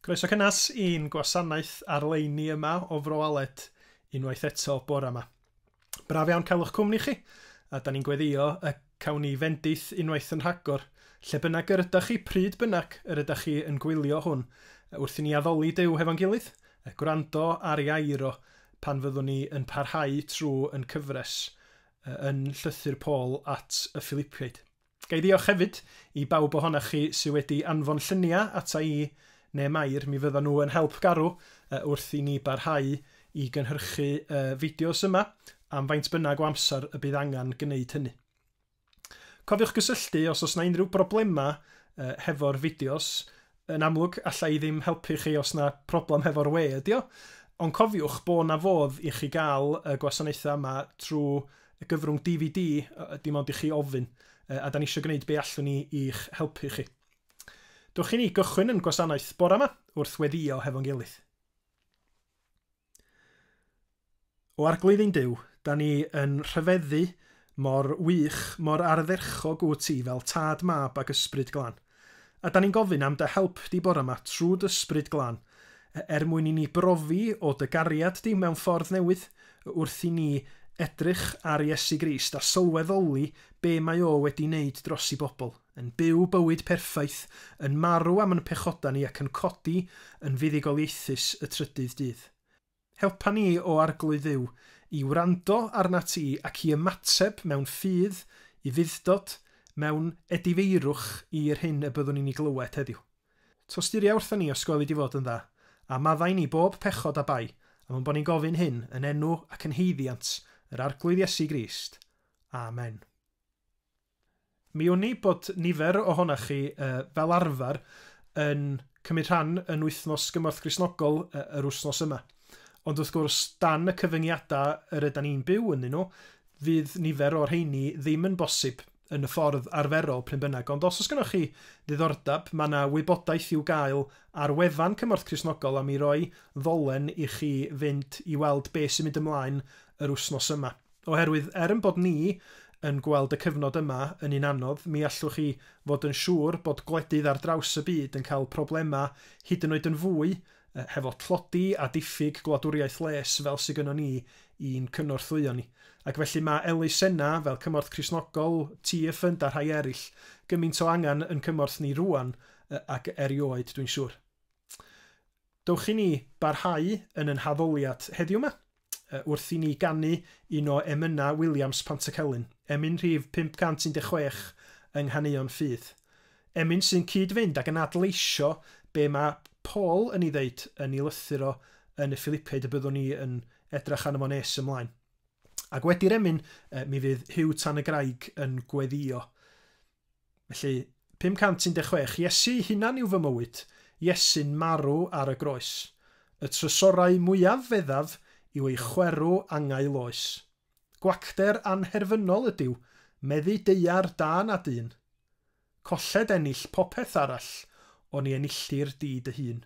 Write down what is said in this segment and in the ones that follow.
Croeso cynnes i'n gwasanaeth ar-leini yma o Fro Aled unwaith eto bore yma. Braf iawn cael eich cwmni chi, a da ni'n gweddio y cawn ni fendith unwaith yn rhagor, lle bynnag yr ydach chi, pryd bynnag yr ydach chi yn gwylio hwn, wrth i ni addoli Duw hefo'n gilydd, gwrando ar ei air o, pan fyddwn ni yn parhau trwy yn cyfres yn Llythyr Paul at y Ffilipiaid. Ga i ddiolch hefyd i bawb ohonoch chi sydd wedi anfon lluniau ata i neu Mair, mi fyddan nhw yn help garw wrth i ni barhau i gynhyrchu y fideos yma am faint bynnag o amser y bydd angen gwneud hynny. Cofiwch gysylltu os oes 'na unrhyw broblemau hefo'r fideos Yn amlwg, alla i ddim helpu chi os na problem hefo'r we ydi o, ond cofiwch bo' 'na fodd i chi ga'l y gwasanaethau yma trw y gyfrwng DVD, dim ond i chi ofyn, a 'dan ni isio gneud be' allwn ni i'ch helpu chi. Dwch i ni gychwyn 'yn gwasanaeth bora 'ma wrth weddio hefo'n gilydd. O Arglwydd ein Duw, da ni yn rhyfeddu mor wych, mor ardderchog wyt ti fel Tad, Mab ac Ysbryd Glân. A da ni'n gofyn am dy help di bore 'ma trwy d'Ysbryd Glân, er mwyn i ni brofi o dy gariad di mewn ffordd newydd, wrth i ni edrych ar Iesu Grist a sylweddoli be mae o wedi neud dros i bobl. yn byw bywyd perffaith, yn marw am yn pechoda ni ac yn codi yn fuddugoliaethus y trydydd dydd. Helpa ni, O Arglwydd Dduw, i wrando arnat ti ac i ymateb mewn ffydd i fuddtod, mewn edifeirwch i'r hyn y byddwn ni'n ei glywed heddiw. Tosturia wrthon ni os gweli di fod yn dda, a maddau ni bob pechod a bai, am ein bod ni'n gofyn hyn yn enw ac yn haeddiant yr Arglwydd Iesu Grist. Amen. Mi wn i bod nifer ohonoch chi, fel arfer, yn cymryd rhan yn Wythnos Gymorth Gristnogol yr wythnos yma. Ond wrth gwrs, dan y cyfyngiadau yr ydan ni'n byw ynddyn nhw, fydd nifer o'r rheini ddim yn bosib yn y ffordd arferol pryn bynnag. Ond os oes gennych chi ddiddordeb, mae yna wybodaeth i'w gael ar wefan Cymorth Cristnogol a mi roi ddolen i chi fynd i weld beth sy'n mynd ymlaen yr wythnos yma. Oherwydd, er ein bod ni yn gweld y cyfnod yma yn un anodd, mi allwch chi fod yn siŵr bod gwledydd ar draws y byd yn cael problemau hyd yn oed yn fwy hefo tlodi a diffyg gwladwriaeth les fel sy gynnon ni i'n cynorthwyo ni. Ac felly mae elusenna fel Cymorth Cristnogol, Tŷ y Ffynd a rhai eraill gymint o angen yn cymorth ni rŵan ac erioed dwi'n siŵr. Dewch i ni barhau yn yn haddoliad heddiw 'ma, wrth i ni ganu un o emynau Williams Pantycelyn, emyn rhif 516 yng Nghaneuon Ffydd. Emyn sy'n cyd-fynd ag yn adleisio be mae Paul yn ei ddeud yn ei lythyr o yn y Ffilipiaid y byddwn ni yn edrach arno fo nes ymlaen. Ac wedi'r emyn, mi fydd Huw Tan-y-graig yn gweddio. Felly, 516, Iesu'i hunan yw fy mywyd, Iesu'n marw ar y groes. Y trysorau mwyaf feddaf yw ei chwerw angau loes. Gwacter anherfynol ydyw, meddu deuar da na dyn. Colled ennill popeth arall, oni enilldir di dy hun.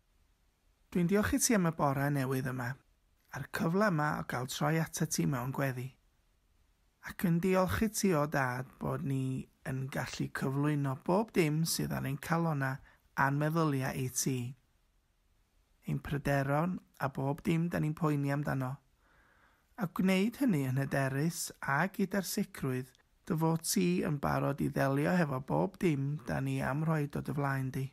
Dwi'n diolch i ti am y bore newydd yma, a'r cyfle yma o gael troi atat ti mewn gweddi. Ac yn diolch i ti o dad bod ni yn gallu cyflwyno bob dim sydd ar ein calona a'n meddyliau i ti. Ein pryderon a bob dim da ni'n poeni amdano. A gwneud hynny yn hyderus a gyda'r sicrwydd dy fod ti yn barod i ddelio hefo bob dim da ni am rhoi dod y flaen di.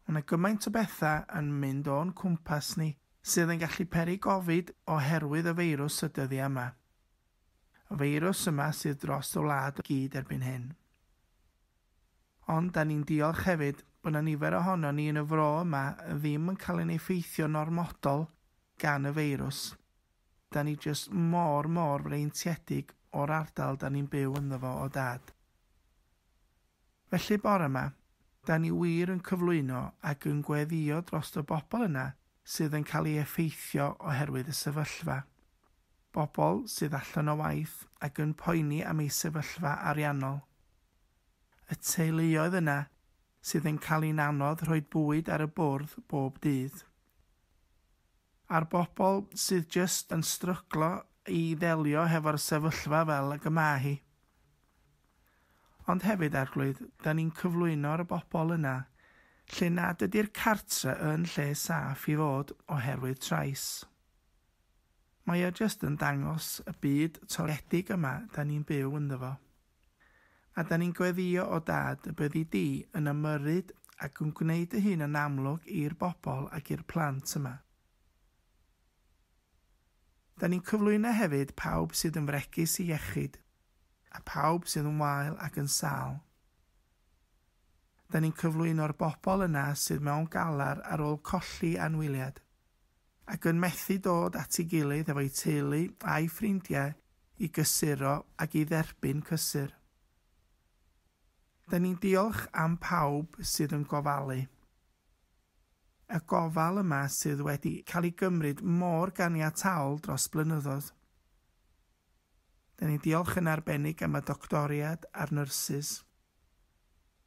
Mae 'na gymaint o bethau yn mynd o'n cwmpas ni sydd yn gallu peri gofid oherwydd y feirws y dyddiau yma. Y feirws yma sydd dros y wlad i gyd erbyn hyn. Ond 'da ni'n diolch hefyd bod 'na nifer ohonon ni yn y fro yma ddim yn cael ein effeithio'n ormodol gan y feirws. 'Da ni jyst mor, mor freintiedig o'r ardal 'da ni'n byw ynddo fo o dad. Felly bore 'ma, 'dan ni wir yn cyflwyno ac yn gweddïo drost y bobl yna sydd yn cael ei effeithio oherwydd y sefyllfa. Bobl sydd allan o waith ac yn poeni am eu sefyllfa ariannol. Y teuluoedd yna sydd yn cael i'n anodd rhoi bwyd ar y bwrdd bob dydd. A'r bobl sydd jyst yn stryglo i ddelio hefo'r sefyllfa fel ag y ma hi. Ond hefyd, Arglwydd, dan ni'n cyflwyno ar y bobl yna lle nad ydy'r cartre yn lle saff i fod oherwydd trais. Mae o jyst yn dangos y byd toredig yma dan ni'n byw ynddo fo. A dan ni'n gweddïo o Dad y byddi di yn ymyrryd ac yn gwneud dy hun yn amlwg i'r bobl ac i'r plant yma. Dan ni'n cyflwyno hefyd pawb sydd yn fregus i iechyd. A phawb sydd yn wael ac yn sâl. Da ni'n cyflwyno'r bobl yna sydd mewn galar ar ôl colli anwyliad, ac yn methu dod at ei gilydd efo'i teulu a'i ffrindiau i gysuro ac i dderbyn cysur. Da ni'n diolch am pawb sydd yn gofalu. Y gofal yma sydd wedi cael ei gymryd mor ganiataol dros blynyddoedd. Dan ni'n diolch yn arbennig am y doctoriad a'r nyrsys,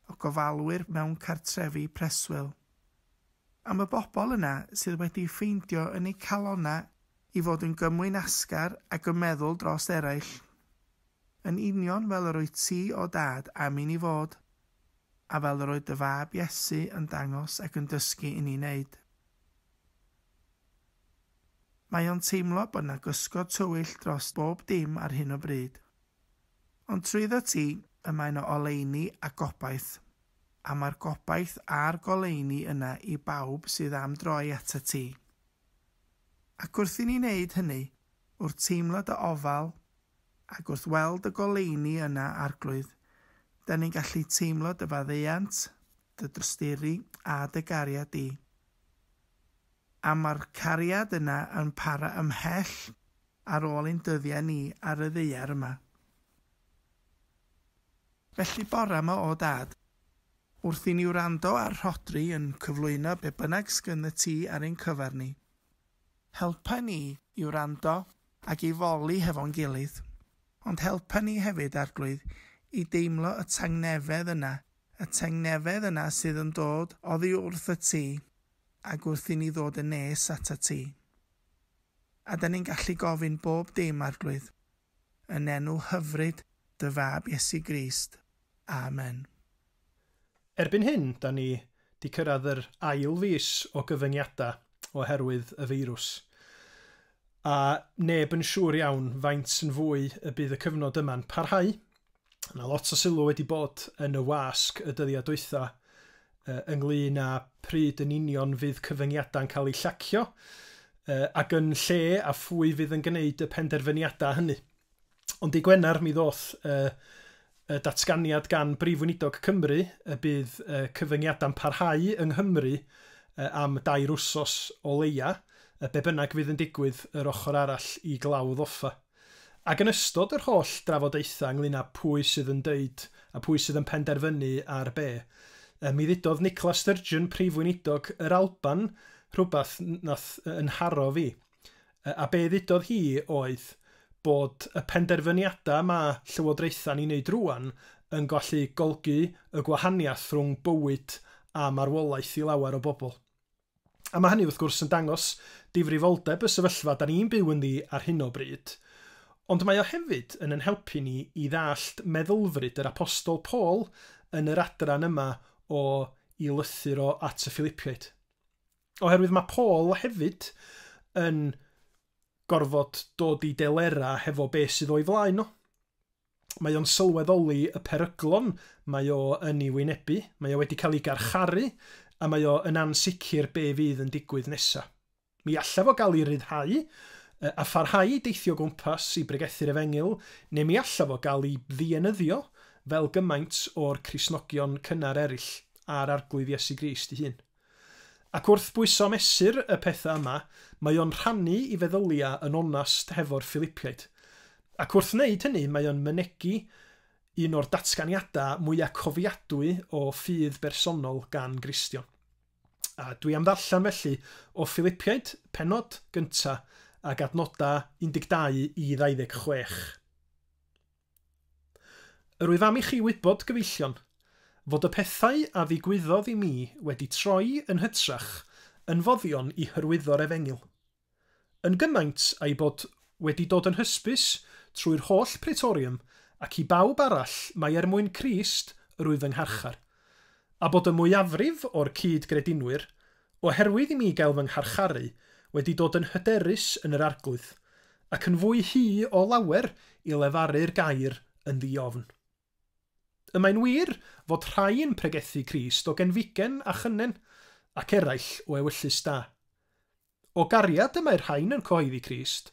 y gofalwyr mewn cartrefi preswyl, am y bobl yna sydd wedi ffeindio yn eu calonnau i fod yn gymwyn asgar ac yn meddwl dros eraill, yn union fel yr wyt ti, o Dad, am i ni fod, a fel yr oedd dy Fab, Iesu, yn dangos ac yn dysgu i ni wneud. Mae o'n teimlo bod 'na gysgod tywyll dros bob dim ar hyn o bryd. Ond trwyddo ti, y mae 'na oleuni a gobaith. A mae'r gobaith a'r goleuni yna i bawb sydd am droi atat ti. Ac wrth i ni wneud hynny, wrth teimlo dy ofal, ac wrth weld y goleuni yna, Arglwydd, 'dan ni'n gallu teimlo dy faddeuant, dy drosturi, a dy gariad di. A mae'r cariad yna yn para ymhell ar ôl ein dyddiau ni ar y ddaear yma. Felly, bore 'ma, o Dad, wrth i ni wrando ar Rhodri yn cyflwyno be bynnag sgyn y ti ar ein cyfer ni, helpa ni i wrando ac i foli hefo'n gilydd, ond helpa ni hefyd, Arglwydd, i deimlo y tangnefedd yna Y tangnefedd yna sydd yn dod oddi wrth y tŷ, ac wrth i ni ddod yn nes at y tŷ. A 'dan ni'n gallu gofyn bob dim, Arglwydd, yn enw hyfryd dy Fab Iesu Grist. Amen. Erbyn hyn, 'dan ni 'di cyrraedd yr ail fis o gyfyngiadau oherwydd y feirws, a neb yn siŵr iawn faint yn fwy y bydd y cyfnod yma'n parhau. Mae yna lot o sylw wedi bod yn y wasg y dyddiau dwytha ynglŷn â pryd yn union fydd cyfyngiadau'n cael eu llacio ac yn lle a phwy fydd yn gwneud y penderfyniadau hynny. Ond i Gwener mi ddoth y datganiad gan Brif Weinidog Cymru y bydd y cyfyngiadau'n parhau yng Nghymru am dair wsos o leia, be bynnag fydd yn digwydd yr ochr arall i glawdd offa. Ac yn ystod yr holl drafodaethau ynglŷn â pwy sydd yn dweud a phwy sydd yn penderfynu ar be, yy mi ddudodd Nicola Sturgeon, Prif Weinidog yr Alban, rhywbeth wnaeth yy 'nharo fi. Yy a be ddudodd hi oedd bod y penderfyniadau ma' Llywodraethau'n ei wneud rŵan yn gallu golgi y gwahaniaeth rhwng bywyd a marwolaeth i lawer o bobl. A mae hynny wrth gwrs yn dangos difrifoldeb y sefyllfa 'da ni'n byw ynddi ar hyn o bryd. Ond mae o hefyd yn yn helpu ni i ddallt meddylfryd yr Apostol Paul yn yr adran yma o I lythyr o at y Philipiaid. Oherwydd mae Paul hefyd yn gorfod dod i delerau hefo be sydd o'i flaen nhw. mae o'n sylweddoli y peryglon mae o yn ei wynebu, mae o wedi cael ei garcharu, a mae o yn ansicr be fydd yn digwydd nesa. Mi allaf o gael ei ryddhau, a pharhau i deithio gwmpas i bregethu'r efengyl, neu mi allaf o gael ei ddienyddio fel gymaint o'r Cristnogion cynnar eraill, a'r Arglwydd Iesu Grist ei hun. Ac wrth bwyso mesur y pethau yma, mae o'n rhannu i feddylia yn onast hefo'r Filipiaid. Ac wrth wneud hynny, mae o'n mynegi un o'r datganiadau mwya cofiadwy o ffydd bersonol gan Gristion. A dwi am ddarllen felly o Filipiaid, pennod gynta, ag adnodau 12 i 26. Yr wyf am i chi wybod, gyfeillion, fod y pethau a ddigwyddodd i mi wedi troi yn hytrach yn foddion i hyrwyddo'r efengyl, yn gymaint a'i bod wedi dod yn hysbys trwy'r holl Praetorium ac i bawb arall mai er mwyn Crist yr wyf yng ngharchar. A bod y mwyafrif o'r cyd-gredinwyr, oherwydd i mi gael fy ngharcharu, wedi dod yn hyderus yn yr Arglwydd, ac yn fwy hy o lawer i lefaru'r gair yn ddi-ofn. Y mae'n wir fod rhai yn pregethu Crist o genfigen a chynnen, ac eraill o ewyllys da. O gariad y mae'r rhain yn cyhoeddi Crist,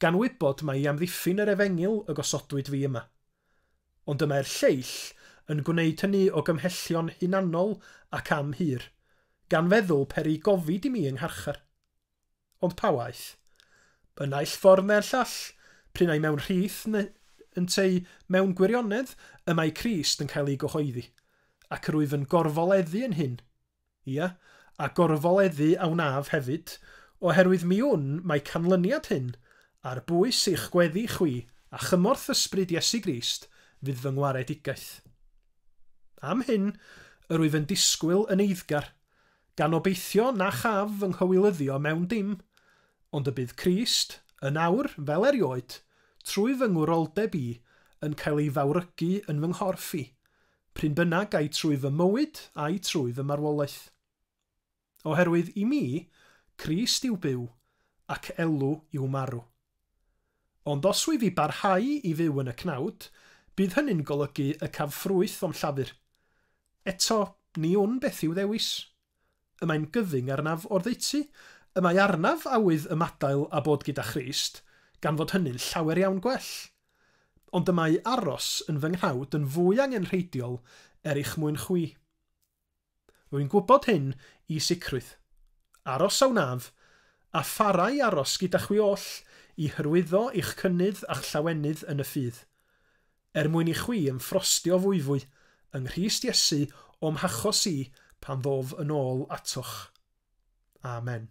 gan wybod mai i amddiffyn yr efengyl y gosodwyd fi yma. Ond y mae'r lleill yn gwneyd hyny o gymhellion hunanol ac am hir, gan feddwl per i gofid i mi yng ngharchar. Ond pa waeth? Y naill ffordd neu'r llall, prin ai mewn rhith neu ynteu mewn gwirionedd, y mae Crist yn cael ei gyhoeddi, ac rwyf yn gorfoleddu yn hyn. Ia, a gorfoleddu a wnaf hefyd, oherwydd mi wn mae canlyniad hyn, ar bwys eich gweddi chwi a chymorth Ysbryd Iesu Grist, fydd fy ngwaredigaeth. Am hyn, yr wyf yn disgwyl yn eiddgar, gan obeithio na chaf fy nghywilyddio mewn dim, ond y bydd Crist, yn awr, fel erioed, trwy fy ngwroldeb i, yn cael ei fawrygu yn fy nghorff i, Pryn bynnag, ai trwy fy mywyd, ai trwy fy marwolaeth. Oherwydd i mi, Crist yw byw, ac elw yw marw. Ond os wyf i barhau i fyw yn y cnawd, bydd hynny'n golygu y caf ffrwyth o'm llafur. Eto, ni wn beth i'w ddewis. Y mae'n gyfyng arnaf oddeutu, y mae arnaf awydd ymadael a bod gyda Christ, gan fod hynny'n llawer iawn gwell. Ond y mae aros yn fy nghnawd yn fwy angenrheidiol er eich mwyn chwi. Rwy'n gwybod hyn i sicrwydd. Aros a wnaf, a phara i aros gyda chwi oll i hyrwyddo eich cynnydd a'ch llawenydd yn y ffydd. Er mwyn i chwi yn ffrostio fwyfwy yng Nghrist Iesu o'm hachos i pan ddof yn ôl atoch. Amen.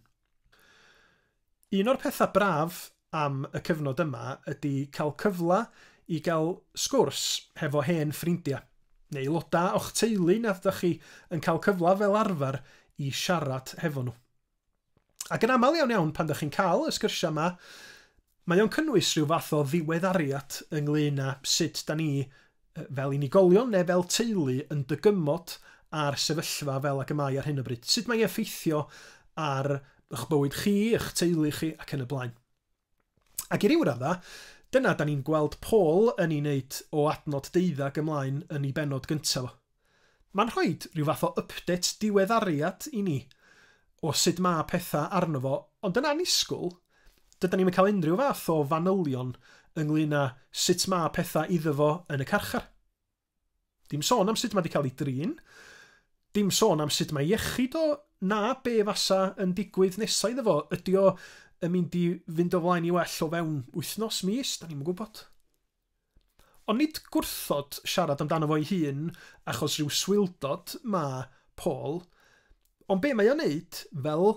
Un o'r pethau braf am y cyfnod yma ydy cael cyfle i gael sgwrs hefo hen ffrindiau, neu aelodau o'ch teulu nad ydych chi yn cael cyfle fel arfer i siarad hefo nhw. Ac yn aml iawn iawn pan dych chi'n cael y sgyrsiau yma, mae o'n cynnwys rhyw fath o ddiweddariad ynglyn â sut da ni fel unigolion neu fel teulu yn dygymod a'r sefyllfa fel ac y mae ar hyn o bryd. Sut mae'n effeithio ar eich bywyd chi, eich teulu chi ac yn y blaen. Ac i ryw raddau, dyna da ni'n gweld Paul yn ei wneud o adnod deuddeg ymlaen yn ei bennod gyntaf o. Mae'n rhoi rhyw fath o update diweddariad i ni o sut mae pethau arno fo, ond yn annisgwyl, dydan ni'm yn cael unrhyw fath o fanylion ynglŷn â sut mae pethau iddo fo yn y carchar. Dim sôn am sut mae wedi cael ei drin, dim sôn am sut mae iechyd o, na be fasa yn digwydd nesau iddo fo, ydy o yn mynd i fynd o flaen i well o fewn wythnos, mis, da ni'n yn gwybod. Ond nid gwrthod siarad amdano fo'i hun achos rhyw swildod mae Paul, Ond be mae o'n neud, fel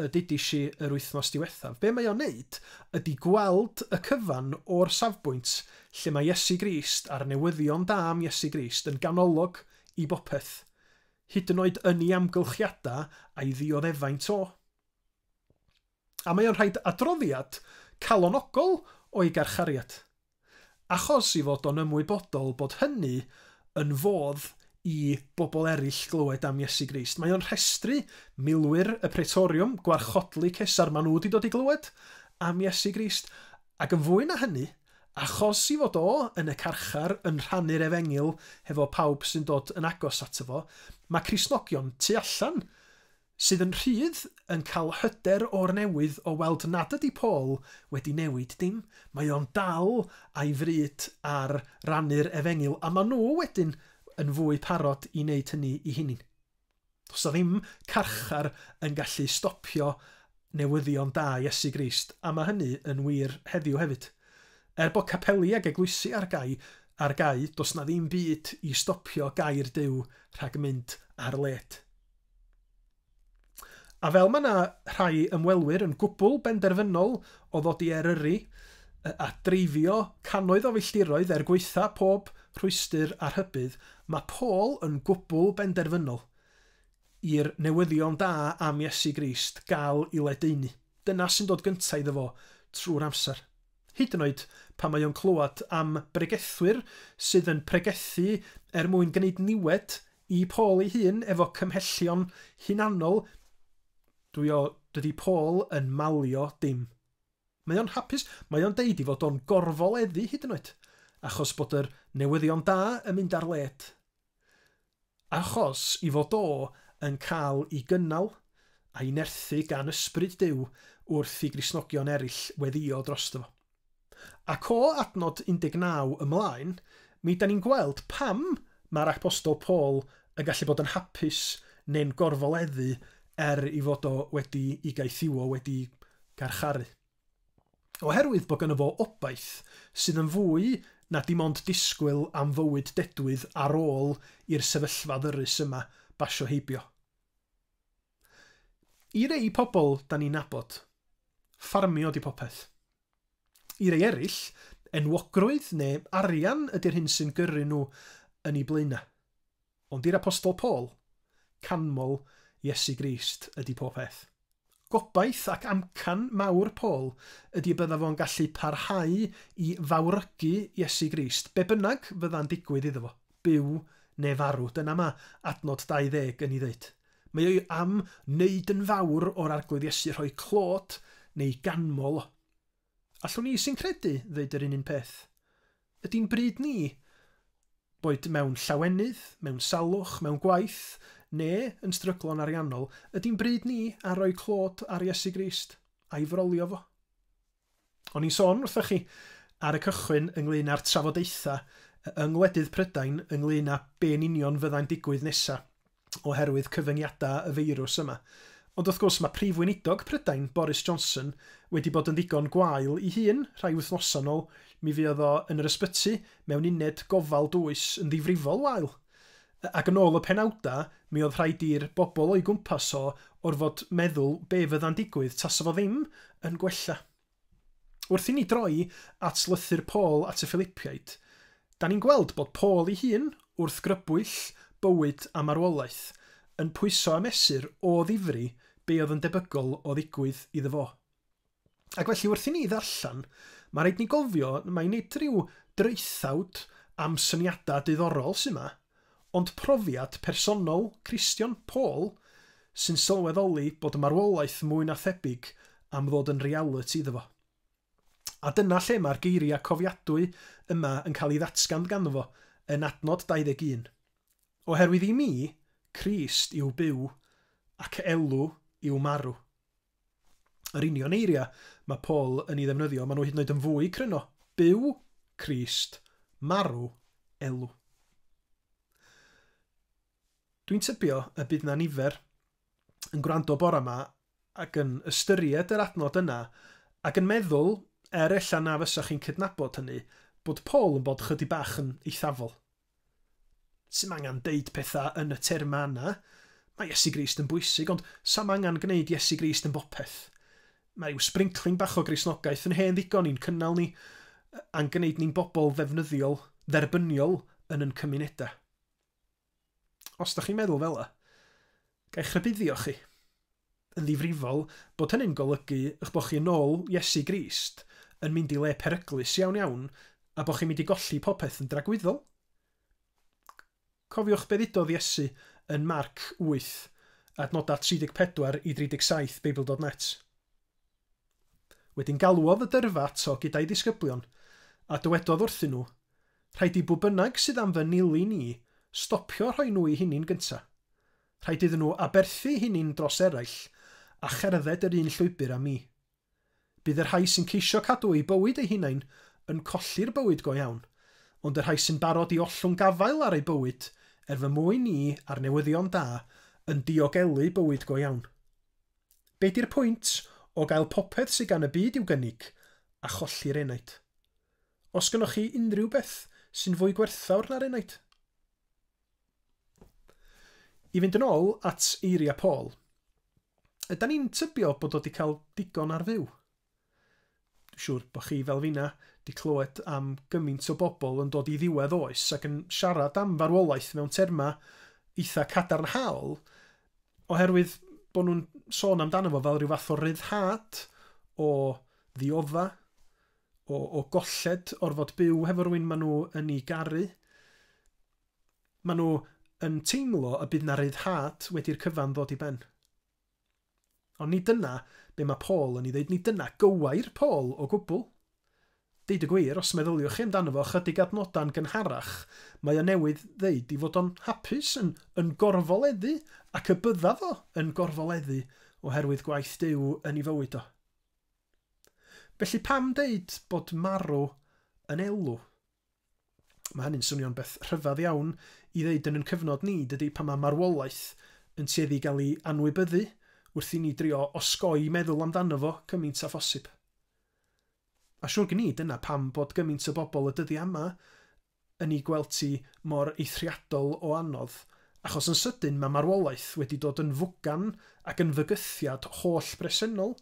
y dudis i yr wythnos diwethaf, be mae o'n neud ydi gweld y cyfan o'r safbwynt lle mae Iesu Grist a'r newyddion da am Iesu Grist yn ganolog i bopeth, hyd yn oed yn ei amgylchiadau a'i ddioddefaint o. a mae o'n rhaid adroddiad calonogol o'i garchariad, achos 'i fod o'n ymwybodol bod hynny yn fodd i bobl eraill glywed am Iesu Grist. Mae o'n rhestru milwyr y Praetoriwm, gwarchodlu Cesar, maen nhw 'di dod i glywed am Iesu Grist, ac yn fwy na hynny, achos 'i fod o yn y carchar yn rhannu'r efengyl hefo pawb sy'n dod yn agos ato fo, mae Cristnogion tu allan sydd yn rhydd, yn cael hyder o'r newydd o weld nad ydy Paul wedi newid dim, mae o'n dal a'i fryd ar rannu'r efengyl a maen nhw wedyn yn fwy parod i wneud hynny i hunin. Does na ddim carchar yn gallu stopio newyddion da Iesu Grist a mae hynny yn wir heddiw hefyd. Er bod capeli ag eglwysi ar gau, ar gau, does na ddim byd i stopio gair Duw rhag mynd ar led. A fel mae 'na rhai ymwelwyr yn gwbl benderfynol o ddod i Eryri a dreifio cannoedd o filltiroedd er gwaetha' pob rhwystr a rhybudd, mae Paul yn gwbl benderfynol i'r newyddion da am Iesu Grist gael 'i ledaenu. Dyna sy'n dod gynta' iddo fo trwy'r amser. hyd yn oed pan mae o'n clywed am bregethwyr sydd yn pregethu er mwyn gwneud niwed i Paul ei hun efo cymhellion hunanol, dwi o, dydi Paul yn malio dim. Mae o'n hapus, mae o'n deud ei fod o'n gorfoleddu hyd yn oed, achos bod yr newyddion da yn mynd ar led. Achos i fod o yn cael i gynnal a'i nerthu gan Ysbryd Duw wrth i Gristnogion erill weddio drosto fo. Ac o adnod 19 ymlaen, mi dan ni'n gweld pam mae'r Apostol Paul yn gallu bod yn hapus neu'n gorfoleddu er i fod o wedi i gaethiwo wedi garcharu. Oherwydd bod gynno fo obaith sydd yn fwy na dim ond disgwyl am fywyd dedwydd ar ôl i'r sefyllfa ddyrys yma basio heibio. I rei pobl 'dan ni'n nabod, ffarmio 'di popeth. I rei eraill, enwogrwydd neu arian ydi'r hyn sy'n gyrru nhw yn 'u blaenau. Ond i'r Apostol Paul, canmol Iesu Grist ydy popeth. Gobaith ac amcan mawr Paul ydy y bydda fo'n gallu parhau i fawrygu Iesu Grist be bynnag fydda'n digwydd iddo fo, byw neu farw. Dyna ma' adnod 20 yn 'i ddeud. Mae o am wneud yn fawr o'r Arglwydd Iesu, rhoi clod neu ganmol o. Allwn i sy'n credu ddeud yr un un peth. Ydi'n bryd ni, boed mewn llawenydd, mewn salwch, mewn gwaith, neu yn stryglo'n ariannol, ydi'n bryd ni a roi clod ar Iesu Grist, a'i frolio fo? O'n i'n sôn wrthoch chi ar y cychwyn ynglŷn â'r trafodaethau yng ngwledydd Prydain ynglŷn â be'n union fyddai'n digwydd nesa. oherwydd cyfyngiadau y feirws yma. Ond wrth gwrs, mae Prif Weinidog Prydain, Boris Johnson, wedi bod yn ddigon gwael ei hun. Rhai wythnosau yn ôl, mi fuodd o yn yr ysbyty mewn uned gofal dwys yn ddifrifol wael. Ac yn ôl y penawdau, mi oedd rhaid i'r bobl o'i gwmpas o orfod meddwl be fydda'n digwydd tasa fo ddim yn gwella. Wrth i ni droi at lythyr Paul at y Ffilipiaid, da ni'n gweld bod Paul ei hun, wrth grybwyll bywyd a marwolaeth, yn pwyso a mesur o ddifri be oedd yn debygol o ddigwydd iddo fo. Ac felly wrth i ni ddarllen, mae rhaid ni gofio mai nid rhyw draethawd am syniadau diddorol sydd 'ma, Ond profiad personol Christian Paul sy'n sylweddoli bod marwolaeth mwy na thebyg am ddod yn realiti iddo fo. A dyna lle mae'r geiriau cofiadwy yma yn cael ei ddatgan ganddo fo yn adnod 21, Oherwydd i mi, Crist yw byw, ac elw yw marw. Yr union eiriau mae Paul yn ei ddefnyddio, maen nhw hyd yn oed yn fwy cryno. Byw, Crist, marw, elw. Dwi'n tybio y bydd na nifer yn gwrando bore yma ac yn ystyried yr adnod yna ac yn meddwl, er ella na fysach chi'n cydnabod hynny, bod Paul yn bod chydig bach yn eithafol. Sdim angen deud pethau yn y termau yna. Mae Iesu Grist yn bwysig, ond sam angen gwneud Iesu Grist yn bopeth. Mae rhyw sbrincling bach o Gristnogaeth yn hen ddigon i'n cynnal ni, a'n gwneud ni'n bobl ddefnyddiol, dderbyniol yn yn cymunedau. Os da chi'n meddwl fela, Ga i'ch rhybuddio chi, yn ddifrifol, bod hynny'n golygu eich bod chi yn ôl Iesu Grist, yn mynd i le peryglus iawn iawn, a bod chi'n mynd i golli popeth yn dragwyddol? Cofiwch be ddudodd Iesu yn Marc 8, adnodau 34 i 37 Beibl.net. Wedyn galwodd y dyrfa ato gyda'i ddisgyblion, a dywedodd wrthyn nhw, Rhaid i bw bynnag sydd am fy nilyn i stopio a rhoi nhw i hunin gynta. Rhaid iddyn nhw aberthu'u hunin dros eraill, a cherdded yr un llwybr â mi. Bydd y rhai sy'n ceisio cadw eu bywyd eu hunain yn colli'r bywyd go iawn, ond y rhai sy'n barod i ollwng gafael ar eu bywyd er fy mwyn i a'r newyddion da yn diogelu bywyd go iawn. Be di'r pwynt o gael popeth sy gan y byd i'w gynnig a cholli'r enaid? Os gynnoch chi unrhyw beth sy'n fwy gwerthfawr na'r enaid? I fynd yn ôl at eiriau Paul, ydan ni'n tybio bod o wedi cael digon ar fyw? Dwi'n siŵr bod chi, fel finna, di clywed am gymint o bobl yn dod i ddiwedd oes ac yn siarad am farwolaeth mewn terma eitha cadarnhaol oherwydd bod nhw'n sôn amdano fo fel rhyw fath o ryddhad, o ddiodda, o, o golled orfod byw hefo rwy'n maen nhw yn ei garu. Maen nhw yn teimlo y bydd na ryddhad wedi'r cyfan ddod i ben. Ond nid dyna be mae Paul yn ei ddeud, nid dyna gywair Paul o gwbl. Deud y gwir, os meddyliwch chi amdano fo ychydig adnodau'n gynharach, mae o newydd ddeud ei fod o'n hapus, yn, yn gorfoleddu, ac y bydda fo yn gorfoleddu oherwydd gwaith Duw yn ei fywyd o. Felly pam deud bod marw yn elw? Mae hynny'n swnio'n beth rhyfedd iawn i ddeud yn yn cyfnod ni, dydy, pan mae marwolaeth yn tueddu i gael ei anwybyddu, wrth i ni drio osgoi meddwl amdano fo cymaint â phosib. A siwr gen i, dyna pam bod gymaint o bobl y dyddiau yma yn ei gweld ti mor eithriadol o anodd, achos yn sydyn mae marwolaeth wedi dod yn fwgan ac yn fygythiad holl bresennol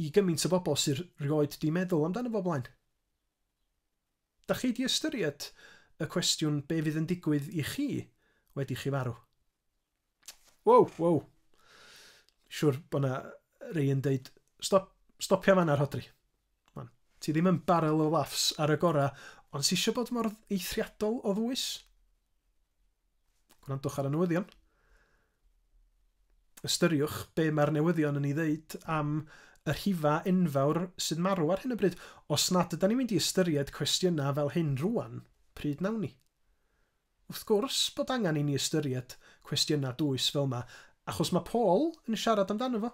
i gymaint o bobl sydd rioed 'di meddwl amdano fo blaen. Dach chi 'di ystyried y cwestiwn be fydd yn digwydd i chi wedi chi farw? Wow, wow. Siwr bod na rei yn deud, stop, stopia fanna Rhodri. Man, ti ddim yn barrel o laughs ar y gora, ond si eisiau bod mor eithriadol o ddwys? Gwrandwch ar y newyddion. Ystyriwch be mae'r newyddion yn ei ddeud am y rhifau enfawr sy'n marw ar hyn o bryd. Os nad ydan ni'n mynd i ystyried cwestiynau fel hyn rŵan, pryd nawn ni? Wrth gwrs bod angen i ni ystyried cwestiynau dwys fel 'ma, achos mae Paul yn siarad amdano fo.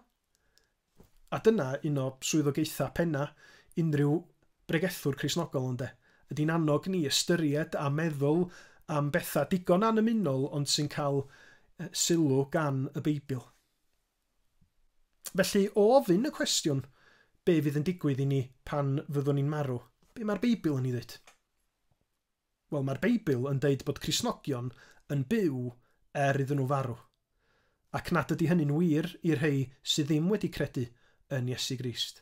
A dyna un o swyddogaethau penna unrhyw bregethwr Cristnogol, ynde? Ydi'n annog ni ystyried a meddwl am bethau digon annymunol ond sy'n cael sylw gan y Beibl. Felly, o ofyn y cwestiwn, be fydd yn digwydd i ni pan fyddwn ni'n marw? Be mae'r Beibl yn ei ddweud? Wel, mae'r Beibl yn deud bod Cristnogion yn byw er iddyn nhw farw. Ac nad ydy hynny'n wir i'r rhei sydd ddim wedi credu yn Iesu Grist.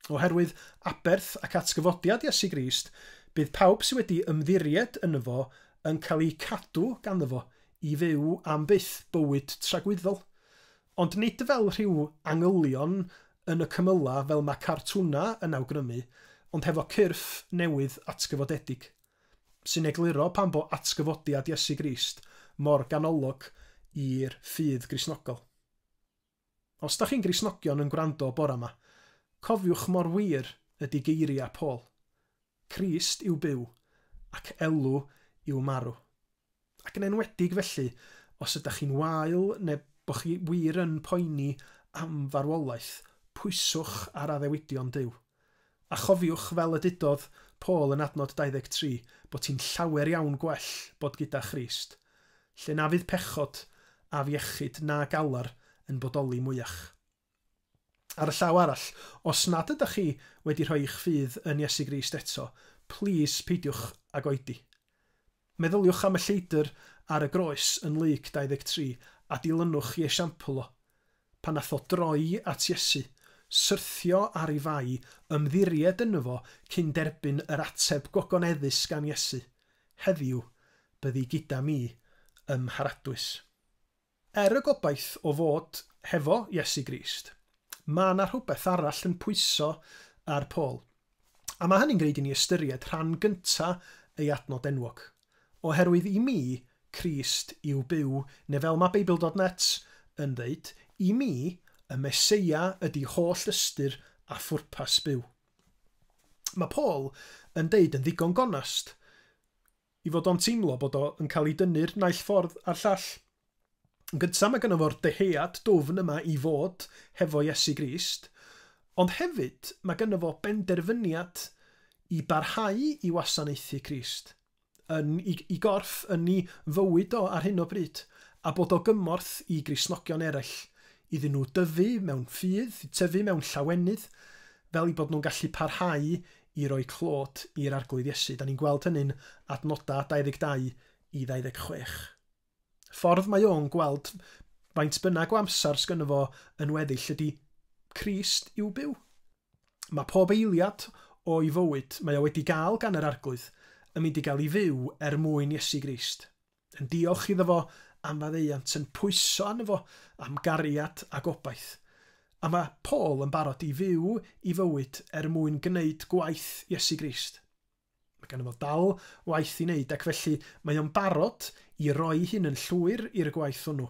Oherwydd aberth ac atgyfodiad Iesu Grist, bydd pawb sydd wedi ymddiried yno fo yn cael eu cadw ganddo fo i fyw am byth bywyd tragwyddol. Ond nid fel rhyw angylion yn y cymylau fel mae cartwnau yn awgrymu, ond hefo cyrff newydd atgyfodedig, sy'n egluro pam bo atgyfodiad Iesu Grist mor ganolog i'r ffydd Gristnogol. Os da chi'n Gristnogion yn gwrando bora ma, cofiwch mor wir ydi geiria Paul, Crist yw byw, ac elw yw marw. Ac yn enwedig felly, os ydach chi'n wael neu bo chi wir yn poeni am farwolaeth, pwyswch ar addewidion Duw. A chofiwch, fel y dudodd Paul yn adnod 23, bod hi'n llawer iawn gwell bod gyda Christ, lle na fydd pechod, afiechyd na galar yn bodoli mwyach. Ar y llaw arall, os nad ydach chi wedi rhoi eich ffydd yn Iesu Grist eto, plîs peidiwch ag oedi. Meddyliwch am y lleidr ar y groes yn Lug 23 a dilynwch i esiampl o. Pan nath o droi at Iesu, syrthio ar ei fai, ymddiried yno fo cyn derbyn yr ateb gogoneddus gan Iesu, Heddiw byddi gyda mi ym Mharadwys. Er y gobaith o fod hefo Iesu Grist, mae 'na rhywbeth arall yn pwyso ar Paul. A mae hynny'n gwneud i ni ystyried rhan gynta' ei adnod enwog. Oherwydd i mi, Crist yw byw, neu fel mae Beibl dot net yn ddeud, i mi, y Meseia ydi holl ystyr a phwrpas byw. Mae Paul yn deud yn ddigon gonast, i fod o'n teimlo bod o yn cael ei dynnu'r naill ffordd a'r llall. Yn gyntaf mae gynno fo'r dyhead dwfn yma i fod hefo Iesu Grist, ond hefyd mae gynno fo benderfyniad i barhau i wasanaethu Crist, yn i i gorff, yn i fywyd o ar hyn o bryd, a bod o gymorth i Gristnogion eraill, iddyn nhw dyfu mewn ffydd, tyfu mewn llawenydd, fel eu bod nhw'n gallu parhau i roi clod i'r Arglwydd Iesu. Da ni'n gweld hynny'n adnodau 22 i 26. Ffordd mae o'n gweld faint bynnag o amser sgynno fo yn weddill ydy Crist i'w byw. Mae pob eiliad o'i fywyd mae o wedi gael gan yr Arglwydd yn mynd i gael ei fyw er mwyn Iesu Grist. yn diolch iddo fo am faddeuant, yn pwyso arno fo am gariad a gobaith. A mae Paul yn barod i fyw i fywyd er mwyn gwneud gwaith Iesu Grist. Mae ganddo fo dal waith i wneud ac felly mae o'n barod i roi hyn yn llwyr i'r gwaith hwnnw,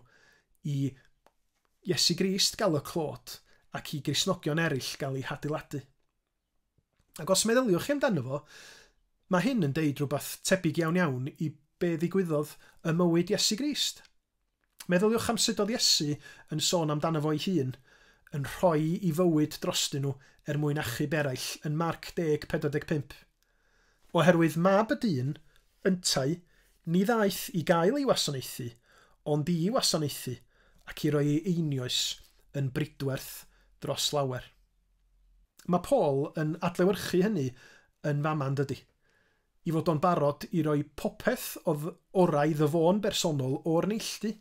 i Iesu Grist gael y clod ac i Gristnogion eraill gael eu hadeiladu. Ac os meddyliwch chi amdano fo, mae hyn yn deud rhywbeth tebyg iawn iawn i be ddigwyddodd ym mywyd Iesu Grist. Meddyliwch am sut oedd Iesu yn sôn amdano fo'i hun, yn rhoi i fywyd drostyn nhw er mwyn achub eraill yn Marc 10:45. Oherwydd mab y dyn, yntau, ni ddaeth i gael ei wasanaethu, ond i wasanaethu, ac i roi ei einioes yn bridwerth dros lawer. Mae Paul yn adlewyrchu hynny yn fama yn dydy? I fod o'n barod i roi popeth odd orau iddo fo'n bersonol o'r neilltu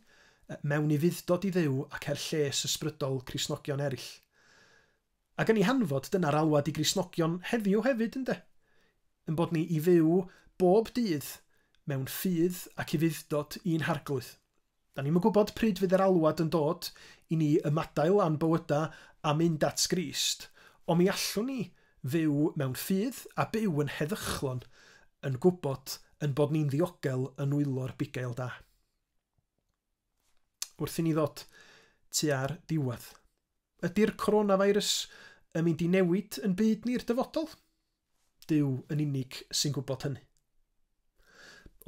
mewn i fuddtod i Dduw ac er lles ysbrydol Cristnogion erill. Ac yn ei hanfod, dyna'r alwad i Gristnogion heddiw hefyd, ynde? Yn bod ni i fyw bob dydd mewn ffydd ac i fuddtod i'n harglwydd. Da ni'm yn gwybod pryd fydd yr alwad yn dod i ni ymadael â'n bywydau a mynd at Grist, ond mi allwn ni fyw mewn ffydd a byw yn heddychlon yn gwybod ein bod ni'n ddiogel yn nwylo'r bugail da. Wrth i ni ddod tua'r diwedd. Ydy'r coronavirus yn mynd i newid yn byd ni'r dyfodol? Duw yn unig sy'n gwybod hynny.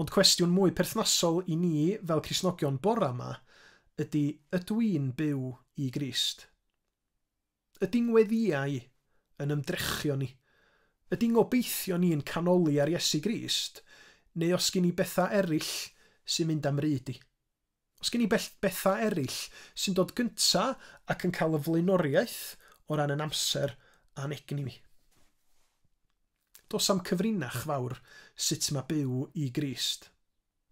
Ond cwestiwn mwy perthnasol i ni fel Cristnogion bora 'ma ydy, ydw i'n byw i Grist? Ydy ngweddïau yn ymdrechion ni? Ydy ngobeithio ni'n canoli ar Iesu Grist, neu os gin i bethau eraill sy'n mynd â'm ryd i? Os gen i bell- bethau eraill sy'n dod gynta ac yn cael y flaenoriaeth o ran yn amser a'n egni ni. Dos am cyfrinach fawr sut mae byw i Grist.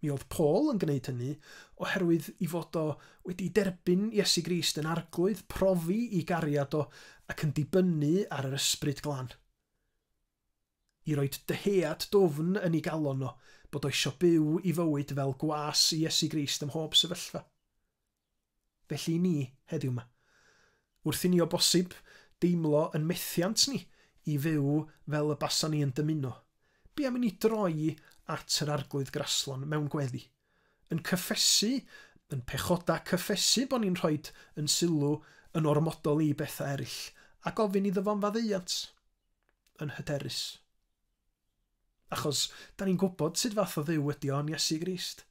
Mi oedd Paul yn gwneud hynny oherwydd i fod o wedi derbyn Iesu Grist yn arglwydd, profi i gariad o ac yn dibynnu ar yr Ysbryd Glân. I roi dyhead dwfn yn ei galon o, bod o isio byw i fywyd fel gwas i Iesu Grist ym mhob sefyllfa. Felly i ni, heddiw 'ma. Wrth i ni o bosib deimlo yn methiant ni i fyw fel y basan ni yn dymuno, be' am i ni droi at yr Arglwydd graslon mewn gweddi, yn cyffesu, yn pechoda cyffesu bo' ni'n rhoid yn sylw yn ormodol i bethau eryll, a gofyn iddo fo'n faddeuant? yn hyderus. Achos, da ni'n gwybod sut fath o Dduw ydy o yn Iesu Grist,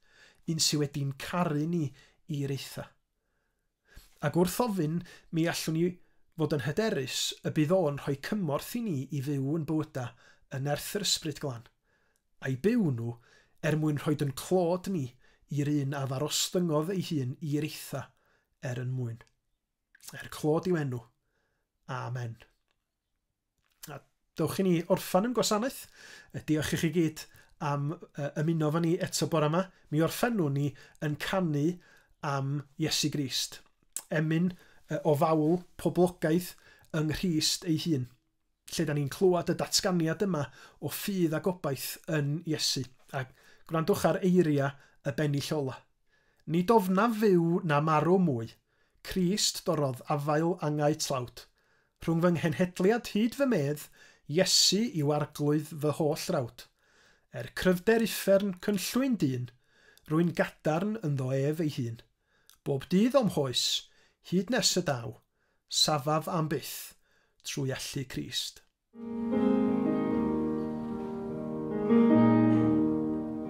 un sydd wedi'n caru ni i reitha. Ac wrth ofyn, mi allwn ni fod yn hyderus y bydd o'n rhoi cymorth i ni i fyw yn bywyda yn nerth yr Ysbryd Glân, a'i byw nhw er mwyn rhoi yn clod ni i'r un a ddarostyngodd ei hun i reitha er yn mwyn. Er clod i'w enw. Amen. A dewch i ni orffan yn gwasanaeth. E, diolch i chi gyd am e, ymuno fan ni eto bore yma. Mi orffennwn ni yn canu am Iesu Grist. Emyn e, o fawl poblogaidd yng Nghrist ei hun, lle da ni'n clywed y datganiad yma o ffydd a gobaith yn Iesu. A gwrandwch ar eiriau y bennill ola. Nid ofnaf fyw na marw mwy, Crist dorodd afael angau tlawd, Rhwng fy nghenhedliad hyd fy medd, Iesu yw arglwydd fy holl frawd. Er cryfder uffern cynllwyn dyn, Rwy'n gadarn ynddo ef ei hun. Bob dydd o'm hoes, hyd nes y daw, Safaf am byth, trwy allu Crist.